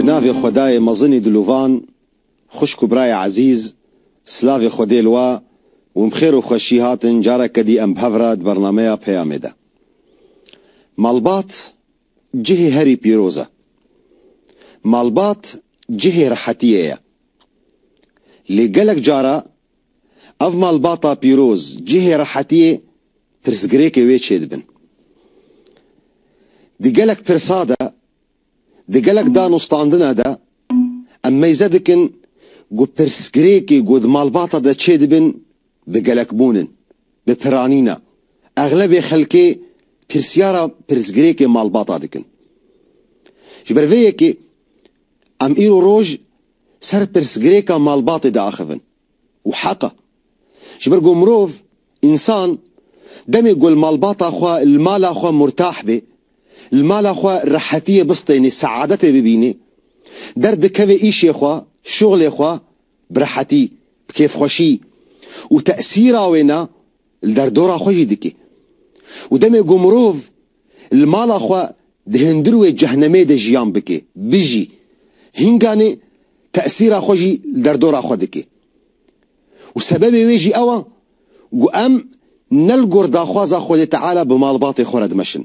Navê xwedayê mezinî dilovan, xwişk û birayê ezîz, silavê xwedê li we û bixêr û xweşî hatin careke dî em bi hev re di bernameya Peyamê de. Malbat Cihê herî pîroz e. Malbat cihê rehetiyê ye. Lê gelek cara ev malbata pîroz, cihê rehetiyê pirsgirêkê wê çêdibin. Di gelek pirsa de, di gelek danûstandine de em meyze dikin ku pirsgirêkê ku di malbata de çêdibin bi gelekbûn in, bi piranîna. Exlebê xelkê pirsyara pirsgirêkê malbata dikin. Ji ber vê yekê em îro roj ser pirsgirêka malbatê diaxivin û heq e. Ji ber ku mirov, însan, demê ku li malbata xwe, li mala xwe murtah bê, li mala xwe rehetiyê bistênê, seadetê bibînê, derdikeve îşê xwe, şuxlê xwe bi rehetî, bi kêfxweşî û tesîra wê ne li derdora xwe jî dike û demê ku mirov li mala xwe di hindir wê cehnemê de jiyan bike, bijî, hînganê tesîra xwe jî li derdora xwe dike û sebebê wê jî ew e ku em ne li gor daxwaza Xwedê Teala bi malbatê xwe re dimeşin.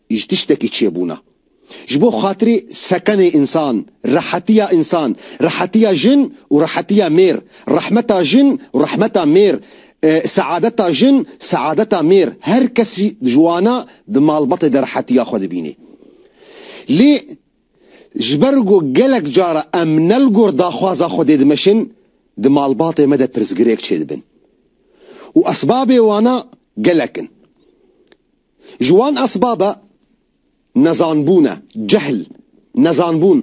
Ji tiştekî çêbûna. Ji bo xatirê seqenê însan, rehetiya însan, rehetiya jin û rehetiya mêr, rehmeta jin û rehmeta mêr, seadeta jin, seadeta mêr, her kes ji wana di malbatê de rehetiya xwe dibînê. Lê ji ber ku gelek cara em ne li gor daxwaza Xwedê dimeşin, di malbatê me de pirsgirêk çêdibin. Û esbabê wana gelek in. Ji wan esbab e nezanbûn e, cehl, nezanbûn.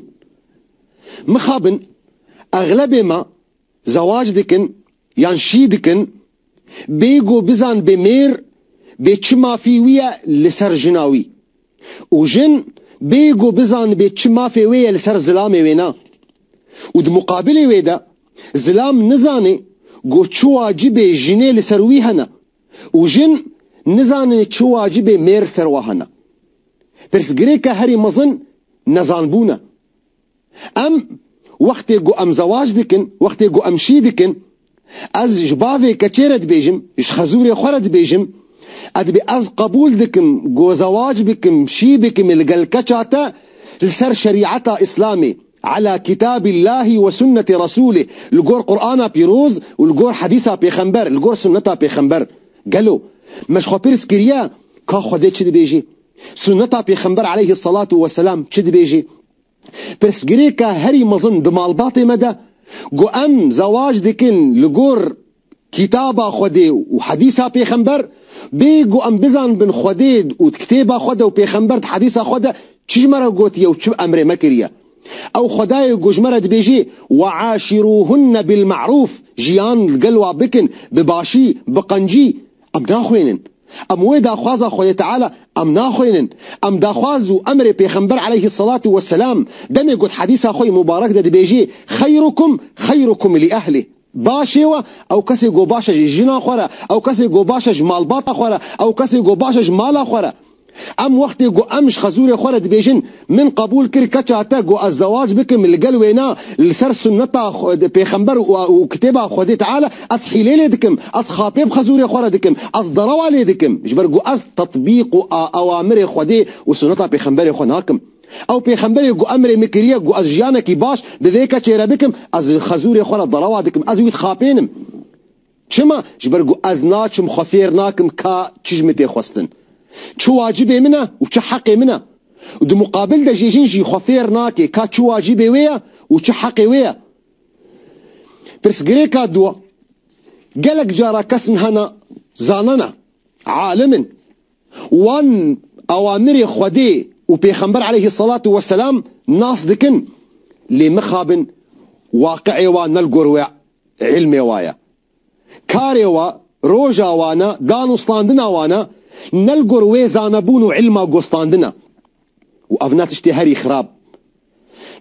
Mixabin exlebê me zewac dikin yan şî dikin bê ku bizanibê mêr bê çi mafî wî ye li ser jina wî û jin bê ku bizanibê çi mafê wê ye li ser zilamê wê ne û di muqabilê wê de zilam nizanê ku çi wacibê jinê li ser wî hene. û jin nizanin çi wacibê mêr ser wan hene. Pirsgirêka herî mezin nezanbûn e. Em wextê ku em zewac dikin, wextê ku em şî dikin, ez ji bavê keçê re dibêjim, ji xezûrê xwe re dibêjim, e dibê ez qebûl dikim ku zewac bikim, şî bikim li gel keça te li ser şerîeta Îslamê. Ala Kitâb Illâhi we Sunnetê Resûlê, li gor Qur'ana pîroz û li gor Hedîsa Pêxember, li gor Sunneta Pêxember. Gelo me ji xwe pirs kiriye ka Xwedê çi dibêjê? Sunneta Pêxember Eleyhi Selatu we Selam çi dibêjê? Pirsgirêka herî mezin di malbatê me de, ku em zewac dikin li gor Kitaba Xwedê û Hedîsa Pêxember, bê ku em bizanbin Xwedê û di Kitêba Xwede û Pêxember di Hedîsa Xwe de çi ji me re gotiye û çi emrê me kiriye. Ew Xwedayê ku ji me re dibêjê, We'aşirûhunne bilme'rûf, jiyan li gel wan bikin bi başî, bi qencî, em naxwînin. Em wê daxwaza Xwedê Teala em naxwînin. Em daxwaz û emrê Pêxember aleyhîsselatu wesselam, demê ku di Hedîsa Xwe yê Mubarek de dibêjê, Xeyrukum xeyrukum li ehlih. Baş e we, ew kesê ku baş e ji jina xwe re, ew kesê ku baş e ji malbata xwe re, ew kesê ku baş e ji mala xwe re. Em wextê ku em ji xezûrê xwe re dibêjin, Min qebûl kir keça te ku ez zewac bikim li gel wê na, li ser sunneta pêxember û kitêba Xwedê Teala, ez hîlê lê dikim, ez xapê bi xezûrê xwe re dikim, ez derewa lê dikim, ji ber ku ez tetbîq û awamirê Xwedê û sunneta pêxemberê xwe nakim. Ew pêxemberê ku emrê min kiriye ku ez jiyanekî baş bi vê keçê re bikim, ez li xezûrê xwe re dalawa dikim, ez wî dixapênim. Çima? Ji ber ku ez naçim xwe fêr nakim ka çi ji min tê xwestin, çi wacibê min e û çi heqê min e. Di muqabil de jê jin jî xwe fêr nake ka çi wacibê wê ye û çi heqê wê ye. Pirsgirêka du, Gelek cara kesin hene, zanan e, alim in, Wan awamirê Xwedê û Pêxember eleyhî selatû we selam nas dikin, lê mixabin waqiê wan ne li gor wê îlmê wa ye. Karê wa, roja wan e, danûstandina wan e, ne li gor wê zanebûn û îlma gostandin e. Û ev ne tiştê herî xirab.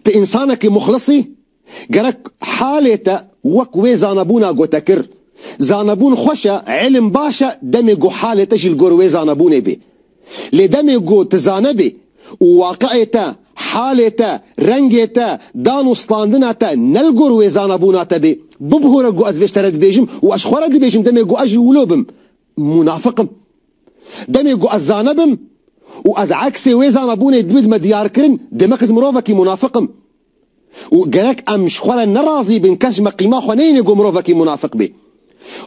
Ti însanekî muxlis î, Gerek halê te wek wê zanebûna gotekir. Zanebûn xweş e, îlim baş e, demê ku halê te jî li gor wê zanebûnê bê. Lê demê ku tu zanebî û waqiê te, halê te, rengê te, dan û standina te ne li gor wê zanebûna te bê, bibihore ku ez vê ji te re dibêjim û ez ji xwe re dibêjim demê ku ez jî wilo bim, munafik im. Demê ku ez zane bim û ez eksê wê zanebûnê bidim diyarkirin, demek ez mirovekî munafik im. û gerek em ji xwe re nerazî bin kes ji meqîma xwe neyêne ku mirovekî munafik bê.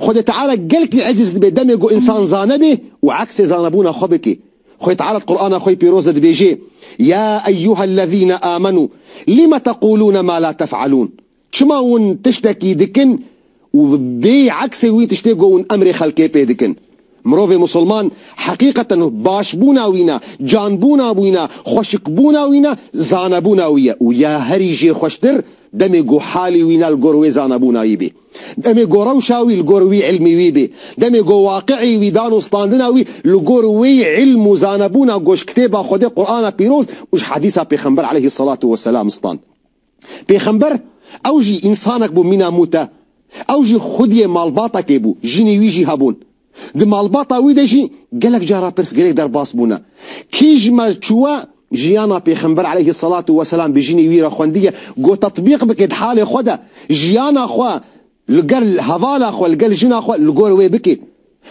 Xwedê Teala gelkî eciz dibe demê ku însan zane be û eksê zanebûna xwe bike. Xwedê Teala di Qur'ana xwe yê pîroz de dibêje, Ya eyyuhellezîne âmenû lime teqûlûne ma la tef'elûn Çima hûn tiştekî dikin Û bi bê eksê wî tiştê ku hûn emrê xelkê pê dikin. Mirovê Musulman heqîqeten başbûna wî ne, canbûna wî ne, xweşikbûna wî ne, zanebûna wî ye û ya herî jê xweştir demê ku halî wî ne li gor wê zanebûnayî bê. Demê ku rewşa wî li gor wî îlmî wî bê. Demê ku waqi'î wî dan û standina wî li gor wê îlm û zanebûna ku ji kitêba Xwedê Qur'ana Pîroz û ji Hedîsa Pêxember aleyhî selatu weselam stand. Pêxember ew jî însanek bû mîna mût e. Ew jî xwediyê malbatekê bû, jinê wî jî hebûn. Di malbata wî de jî gelek cara pirsgirêk derbas bûne. Kî ji me çûye jiyana Pêxember eleyhi selatû weselam bi jinê wî re xwendiye ku tetbîq bike di halê xwe de, jiyana xwe Li gel hevala xwe, li gel jina xwe li gor wê bikî.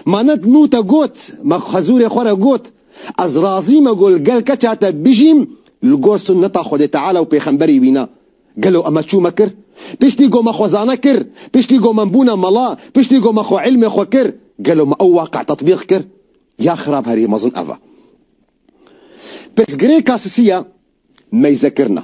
Manet nû te got, me xwezûrê xwe re got, Ez razî me ku li gel keça te bijîm li gor sunneta Xwedê Teala û pêxemberî wî na. Gelo eme çû me kir? Piştî ku me xwezane kir, piştî ku me bûne mela, piştî ku me xwe îlmê xwe kir, gelo me ew waqî tetbîq kir? Ya xirab herî mezin ev e. Pirsgirêka sisî ye meyzekirina.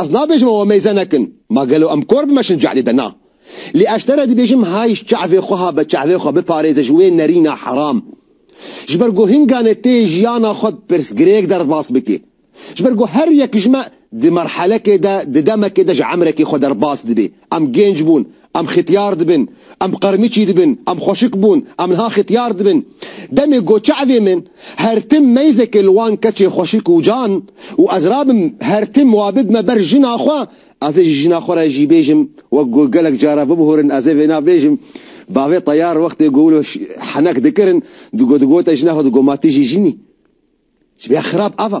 Ez nabêjim ew meyze nekin, ma gelo em kor bimeşin cehlê de na. Lê ez ji te re dibêjim hay ji çavê xwe ha be çavê xwe biparêze ji wê nerîna heram. Ji ber ku hinganê tê jiyana xwe bi pirsgirêk derbas bikê. Ji ber ku her yek ji me di merhelekê de, di demekê de ji emrekê xwe derbas dibê. Em gênc bûn, Em xetyar dibin, em qirmiçî dibin, em xweşik bûn, em niha xetyar dibin. Demê got çavê min, her tim meyzekê li wan keçê xweşik û can û ez rabim her tim wa bidme ber jina xwe, ez ê ji jina xwe re jî bêjim wek ku gelek caran bibûrin ez ê vêna bêjim, bavê Teyar wextê ku wilo henek dikirin digo digote jina xwe digo ma tu jî jin î. Ji vê ya xirab ev e.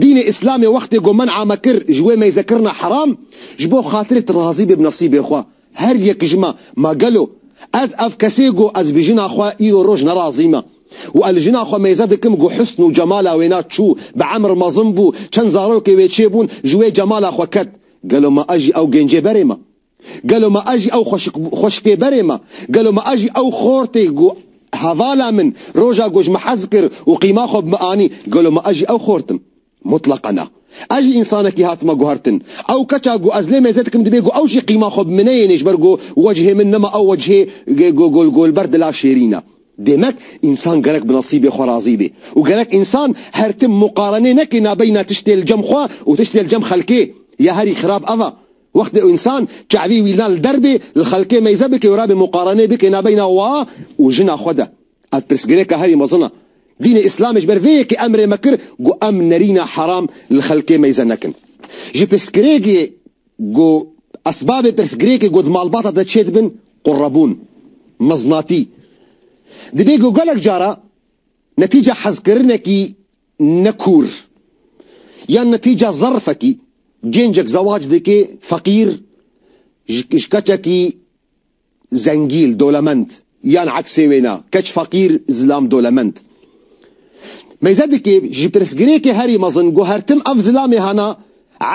Dînê Îslamê wextê ku men'a me kir ji wê meyzekirina heram, ji bo xatirê tu razî bê bi nesîbê xwe, her yek ji me, ma gelo ez ev kesê ku ez bi jina xwe îro roj nerazî me û ez li jina xwe meyze dikim ku husn û cemala wê na çû, bi emr mezin bû, çend zarokê wê çêbûn, ji wê cemala xwe ket, gelo ma ez jî ew gêncê berê me? Gelo me a jî ew xweşik bû, xweşikpêberê me? Gelo me a jî ew xortê ku hevala min roja ku ji min hez kir û qîma xwe bi min anî, gelo me a jî ew xort im? Mutleqan na. Ez jî însanekî hatime guhertin. Ew keça ku ez lê mêze dikim dibê ku ew jî qîma xwe bi min neyênê ji ber ku wecihê min nema ew wecihê golgolber dila şêrîn e. Demek însan gerek bi nesîbê xwe razî bê û gerek însan her tim muqarenê neke nabeyna tiştê li cem xwe û tiştê li cem xelkê ya herî xirab ev e. Wextê însan çavî wî na li der bê, li xelkê meyze bike û rabê muqarenê bike nabeyna wa û jina xwe de. Ev pirsgirêka herî mezin e. Dînê Îslamê ji ber vê yekê emrê me kir ku em nerîna heram li xelkê meyze nekin. Ji pirsgirêkê ku esbabê pirsgirêkê ku di malbata te çê dibin, qurebûn, meznatî, dibê ku gelek cara netîca hezkirinekî, Ne kûr ya ne tîca zerfekî gêncek zewac dike feqîr ji keçekî zengîl, dolemend yan eksê wê ne, keç feqîr, zilam dolemend. Meyze dike ji pirsgirêkê herî mezin ku her tim ev zilamê hene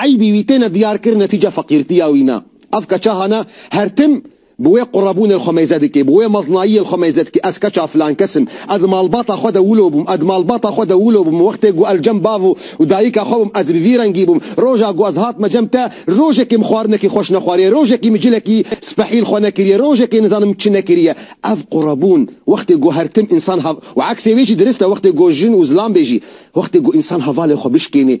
eybî wî têne diyarkirin ne tîca feqîrtiya wî ne. Ev keça hene her tim Bi wê qurebûnê li xwe meyze dikê, bi wê meznayiyê li xwe meyze dikê, ez keça filankes im, ez di malbata xwe de wilo bûm, ez di malbata xwe de wilo bûm, wextê ku ez cem bav û û dayika xwe bûm, ez bi vî rengî bûm, roja ku ez hatime cem te, rojekê min xwarinekî xweş nexwariye, rojekî min cilekî spehî li xwe nekiriye, rojekê nizanim çi nekiriye. Ev qurebûn, wextê ku her tim însan hev û eksê wê jî dirist e, wextê ku jin û zilam bê jî, wextê ku însan hevalê xwe bişkênê,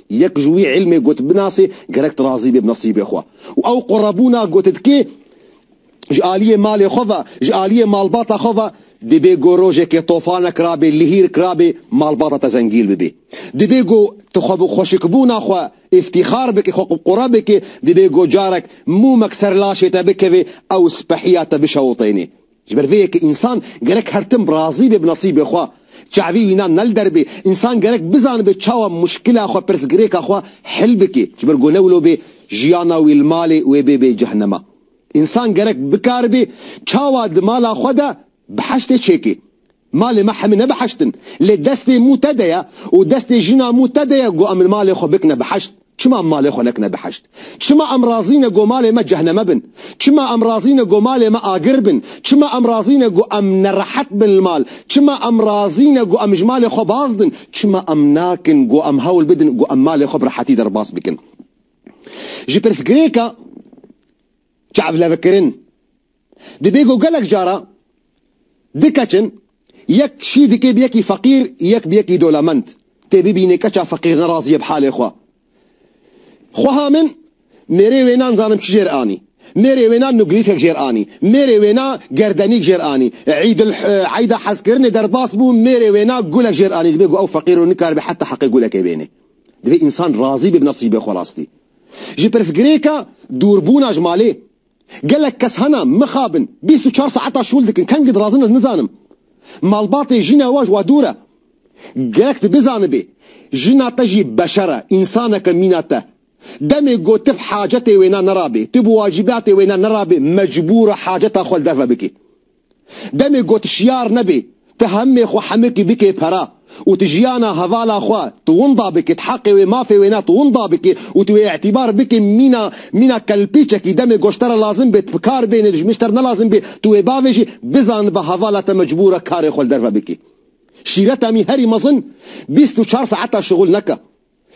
Yek ji wî îlmê got binasê gerek tu razî bê bi nesîbê xwe û ew qurebûna got dikê ji aliyê malê xwe ve, ji aliyê malbata xwe ve dibê ku rojekê tofane kirabê, lihîr kirabê malbata te zengîl bibê. Dibê ku tu xwe bi xweşikbûna xwe îftîxar bikî, xwe qure bikî, dibê ku carek mûmek ser laşê te bikevê ew spehiya te bişewitênê. Ji ber vê ye ke însan gerek her tim razî be bi nesîbê xwe, çavî wî na ne li der bê, însan gerek bizanibe çawa muşkila xwe, pirsgirêka xwe hil bike. Ji ber ku ne wilo bê jiyana wî li malê wê bê bê cehenema. Însan gerek bikaribê çawa di mala xwe de biheştê çêkê. Malê me hemî ne biheşt in. Lê destê mû te de ye û destê jina mû te de ye ku em li malê xwe bikine biheşt. Çima em malê xwe nekine biheşt? Çima em razî ne ku malê me cehneme bin? Çima em razî ne ku malê me agir bin? Çima em razî ne ku em nerehet bin li mal? Çima em razî ne ku em ji malê xwe baz din? Çima em nakin ku em hewl bidin ku em malê xwe bi rehetî derbas bikin? Ji pirsgirêka çavlevekirin. Dibê ku gelek cara du keçin yek şî dikê bi yekî feqîr yek bi yekî dolemend tê bibînê keça feqîr ne razî ye bi halê xwe. Xweha min mêrê wê na nizanim çi jêr anî. Mêrê wê na nuglîskek jêr anî. Mêrê wê na gerdenîk jêr anî. Îdul Îda hezkirinê derbas bû mêrê wê na gulek jêr anî. Dibê ku ew feqîr o nikaribe heta heqê gulekê bênê. Dibê însan razî be bi nesîbê xwe rastî. Ji pirsgirêka dûrbûna ji malê Gelek kes hena mixabin bîst û çar saeta şûl dikin kengî dirazin ez nizanim malbatê jîna we ji we dûr e. Gerek tu bizanibî jina te jî beşer e, însanek e mîna te. Demê ku tu hacetê wêna nerabî, tu bi wacîbatê wêna nerabî mecbûr e haceta xwe li derve bikî. Demê ku tu şiyar nebî, tu hemê xwe hemikî bikê pere û tu jiyana hevala xwe tu winda bikî, tu heqê wê, mafê wê ne tu winda bikî û tu wê îtîbar bikî mîna mîna kelpîçekî demê ku ji te re lazim bê tu bi kar bênê dijmin ji te re ne lazim bê tu wê bavêjî bizan bi hevala te mecbûr e karê xwe li derve bikî. Şîretemî herî mezin bîst û çar saeta şixul neke.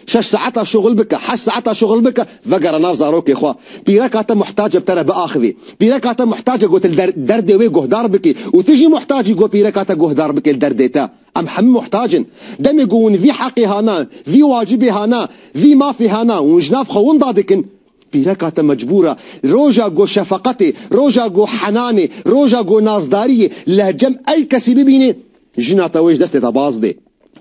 Şeş saeta şuxul bike, heşt saeta şuxul bike, vegere nav zarokê xwe. Pîreka te muhtac e bi te re biaxivî. Pîreka te muhtac e ku tu li derdê wê guhdar bikî û tu jî muhtac î ku pîreka te guhdar bike li derdê te. Em hemû muhtac in. Demê ku hûn vî heqê hana, vî wacibê hana, vî mafê hana hûn ji nav xwe winda dikin, pîreka te mecbûr e roja ku şefeqetê, roja ku henanê, roja ku nazdariyê li cem ey kesî bibînê, jina te wê ji destê te baz dê.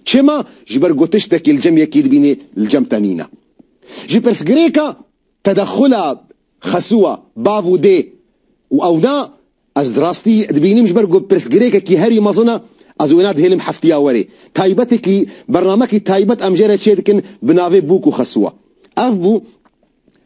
Çima? Ji ber ku tiştekî li cem yekî dibînê li cem te nîne. Ji pirsgirêka tedexula xesûa bav û dê û ew na ez di rastî dibînim ji ber ku pirsgirêkekî herî mezin e, ez wêna dihêlim heftiya werê. Taybetekî bernamekî taybet em jê re çêdikin bi navê Bûk û Xesûa. Ev bû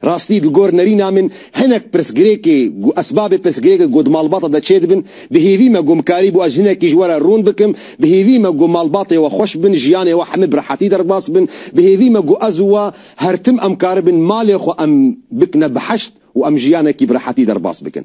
Rastî li gor nerîna min hinek pirsgirêkê û esbabê pirsgirêkê ku di malbata de çêdibin, bi hêvî me ku em karî bû ez hinekî ji we re rûn bikim, bi hêvî me ku malbatê we xweş bin, jiyanê we hemû bi rehetî derbas bin, bi hêvî me ku ez û we her tim em karibin malê xwe em bikine bi heşt û em jiyanekî bi rehetî derbas bikin.